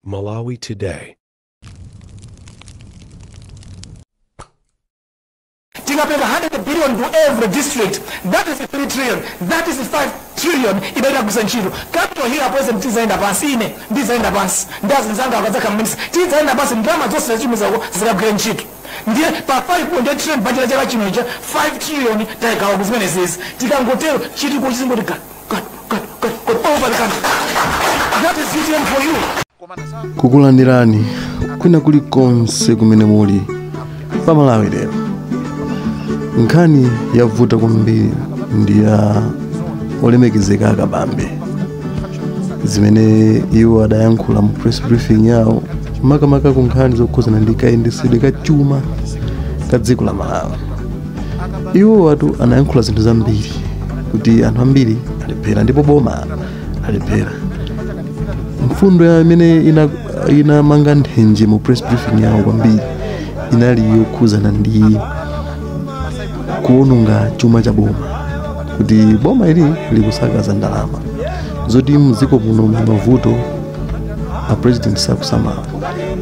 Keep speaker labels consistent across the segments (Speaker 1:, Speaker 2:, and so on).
Speaker 1: Malawi
Speaker 2: Today. tikapereka 100 billion to every district that is 3 trillion that is 5 trillion idayenda kugwiritsa ntchito capital hill apoison tizaenda pansi ine ndizaenda pansi ndi anzanga akadzakha mminisa tizaenda pansi ndalama zonse zachimizako zikagwira ntchito ndiye pa 5.8 trillion budget ya chaka chino ija 5 trillion tayigawa ku zimenezizi tikangotero chitukuko chizingochitika
Speaker 3: kukulandirani kwina kuli konse kumene muli pa malawi lero nkhani yavuta kwambiri ndi ya olemekezeka a kabambe zimene iwo adayankhula mu press briefing yawo makamaka ku nkhani zokhuzana ndi kayendetsedwe ka chuma ka dziko la malawi iwowatu anayankhula zinthu zambiri kuti anthu ambiri alephera ndipo boma alephera mfundo yaimene ina- inamanga nthenje mu press briefing yawo kwambiri inali yokhuzana ndi kuononga chuma cha boma kuti boma ili likusakaza ndalama zoti mdziko muno muli mavuto a president sakusamala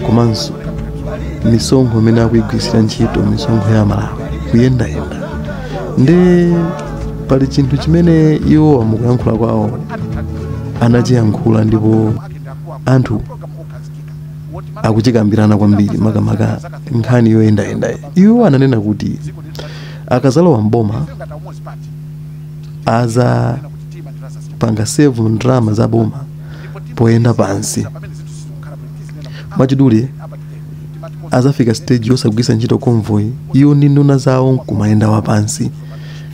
Speaker 3: komanso misonkho mmene akuyigwiritsira ntchito misonkho ya amalawi kuyendayenda nde pali chinthu chimene iwowa mukuyankhula kwawo anachiyankhula ndipo anthu akuchikambirana kwambiri makamaka nkhani yoyendayenda iwo ananena kuti akazalowa mboma azapanga save ndalama za boma poyenda pansi mwachidule azafika stage yosagwiritsa ntchito convoy iwo ndi nduna zawo nkumayenda wapansi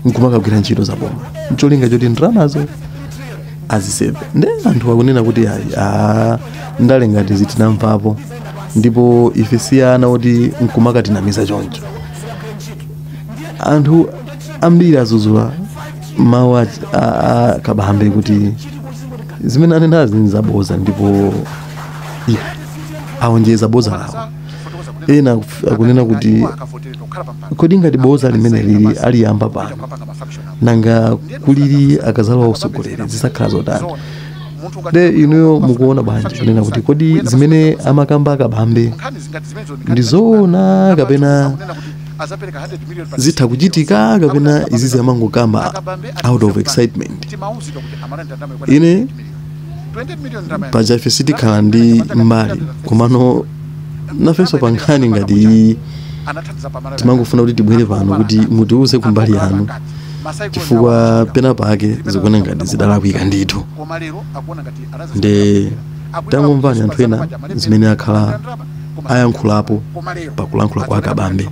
Speaker 3: nkumakagwira ntchito za boma ncholinga choti ndalamazo aziseve nde anthu akunena kuti ayi ndale ngati izi tinamvapo ndipo ife si ana oti nkumakatinamiza choncho anthu ambiri azuzula mawu a, a, a kabambe kuti zimene anenazi ndi zabodza ndipo ya aonjeza bodza lawo ena akuf- akunena kuti kodi ngati bodza limeneli aliyamba pano nanga kuli bwanji akazalowa usogoleri zizakhala zotani nde inuyo mukuona bwanji kunena kuti kodi zimene amakamba a kabambe ndi zoona kapena azapereka 100 million pa zitha kuchitika kapena izizi amangokamba out of excitement timauzidwa kuti amalanda ndalama yokwana Ine- 20 million. 20 million ndalama ya- paja ife sitikhala ndi mbali komano nafenso pa nkhani ngati iyi anathandiza pa Malawi. timangofuna kuti tibwere pano kuti mutiuze kumbali yanu Masai chifukwa Konya pena pake zikuona ngati zidalakwika ndithu koma lero akuona ngati anazi- Nde akuipa tangomvani anthu ena zimene akhala ayankhulapo pa kulankhula kwa akabambe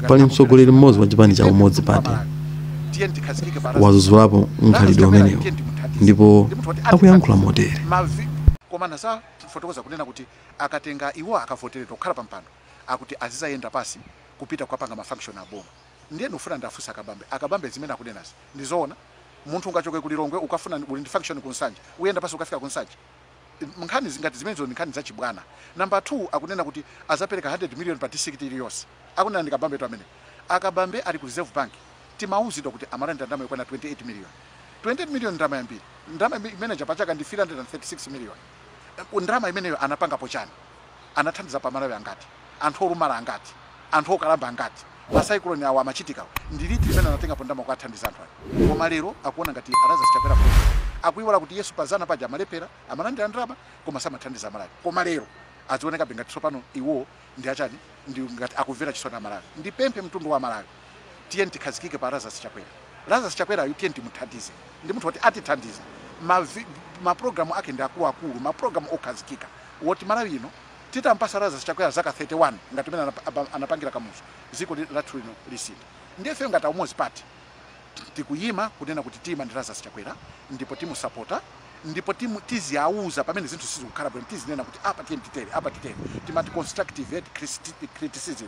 Speaker 3: pali mtsogoleri mmodzi wa chipani cha umodzi party wazuzulapo mkhalidwe umenewo ndipo akuyankhula motere
Speaker 4: komanso afotokoza kunena kuti akatenga iwo akavoteredwa kukhala pa mpando akuti azizayenda pasi kupita kukapanga mafunction a boma ndiye ndikufuna ndafunse akabambe akabambe zimene akunenazi ndizoona munthu ungachoke kulilongwe ukafuna uli ndi function kunsanje uyenda pasi ukafika kunsanje nkhani zingati zimenezo ndi nkhani zachibwana number 2 akunena kuti azapereka 100 million pa district iliyonse akunena ndi kabambetu amene akabambe ali ku reserve bank timauzidwa kuti amalandira ndalama yokwana 28 million 28 million ndalama yambiri ndalama imene ija pa chaka ndi 336 million ndalama imeneyo anapangapo chani anathandizapo amalawi angati? anthu olumala angati? anthu okalamba angati? ma cyclone awa amachitikawa ndi liti limene anatengapo ndalama kukathandiza anthu aja? koma lero akuona ngati a Lazarus Chakwerawo akuiwala kuti yesu pa zana paja amalephera amalandira ndalama koma samathandiza amalawi koma lero azionekabe ngati tsopano iwo ndi achani ndi ngati akumvera chisoni amalawi ndipemphe mtundu wa amalawi Tiyeni tikhazikike pa Lazarus Chakwera. Lazarus Chakwerayu tiyeni timuthandize. Ndi munthu woti atithandiza. Ma, ma program ake ndi akuluakulu, ma program okhazikika. Woti Malawi ino titampasa Lazarus Chakwera zaka 31 ngati mene anapangira Kamuzu, ziko lathu lino lisintha. Ndiye ifeyo ngati Umodzi Party tikuyima kunena kuti tiyima ndi Lazarus Chakwera ndipo timusapota ndipo timu, tiziauza pamene zinthu sizikukhala bwino, tizinena kuti apa tiyeni titere, apa titere. Timati constructive criticism.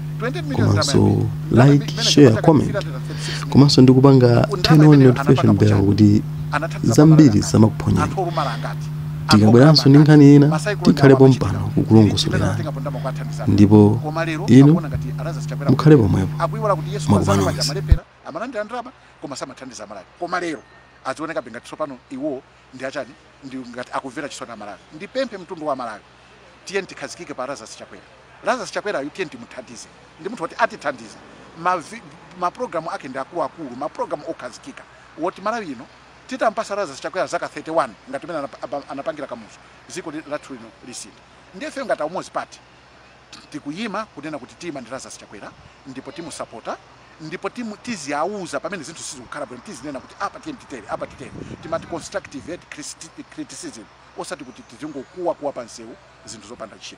Speaker 3: komanso like share comment komanso ndikupanga turn on notification bell kuti zambiri zisamakuphonyeni tikabweranso ndi nkhani ina tikhale pompano kukulongosolerani ndipo inu mukhale pomwepo makupano onse amalandira
Speaker 4: ndalama koma samathandiza amalawi koma lero azionekabe ngati tsopano iwo ndi achani ndi ngati akumvera chisoni amalawi ndipemphe mtundu wa malawi tiyeni tikhazikike pa lazarus chakwera lazarus chakwerayu tiyeni timuthandize ndi munthu woti atithandiza mapulogalamu ake ndi akuluakulu mapulogalamu okhazikika woti malawi ino titampasa lazarus chakwera zaka 31 ngati mene anapangira kamuzu ziko lathu lino lisintha ndiye ifeyo ngati aumodzi party tikuyima kunena kuti tiyima ndi Lazarus Chakwera ndipo timusapota ndipo timu, tiziauza pamene zinthu sizikukhala bwino tizinena kuti apa tiyeni titere apa titere timati constructive criticism osati kuti tizingokuwa kuwa pansewu zinthu zopanda ntchito.